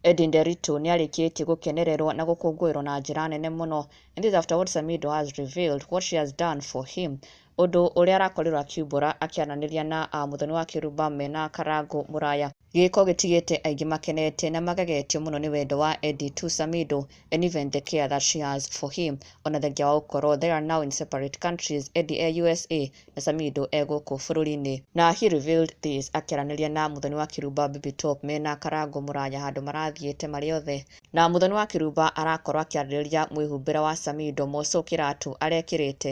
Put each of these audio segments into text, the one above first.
Eddy Nderitu nĩ arĩkĩtie gũkenererwo na gũkũngũĩrwo na njĩra nene mũno and this after what Samido has revealed what she has done for him ũndũ ũrĩa arakorirwo akiumbũra akĩaranĩria na uh, mũthoni wa kĩrumba mena Karangũ Mũraya. Gĩĩko gĩtigĩte aingĩ makenete na magagetio mũno nĩ wendo wa Eddie to Samido and even the care that she has for him. O na thengia wa gũkorũo they are now in separate countries, Eddie e usa na Samido e gũkũ bũrũri-inĩ. Na he revealed this akĩaranĩria na Muthoni wa Kiruba Bibi Top me na Karangũ Mũraya handũ marathiĩte marĩ othe. Na Muthoni wa Kiruba arakorũo akĩarĩrĩria mwĩhumbĩre wa Samido, Mosũ kĩratũ arekĩrĩte,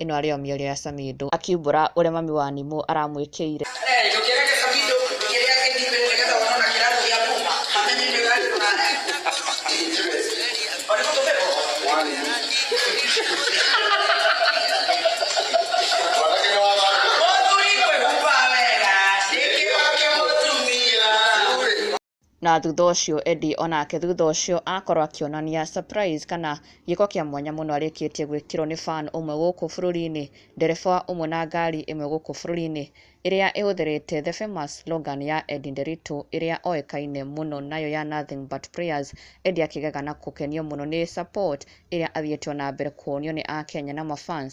Ĩno arĩ o mĩario ya Samido akiumbũra ũrĩa mami wa Nimũ aramwĩkĩire. na thutha ũcio Eddie onake thutha ũcio akorwo akĩonania surprise kana gĩko kĩa mwanya mũno arĩkĩtie gwĩkĩrwo nĩ fan ũmwe gũkũ bũrũri-inĩ, ndereba ũmwe na ngari ĩmwe gũkũ bũrũri-inĩ, ĩrĩa ĩhũthĩrĩte the famous slogan ya Eddie Nderitu ĩrĩa oĩkaine mũno nayo ya nothing but prayers, Eddie akĩgega na gũkenio mũno nĩ support ĩrĩa athiĩte o na mbere kuonio nĩ akenya na ma fans.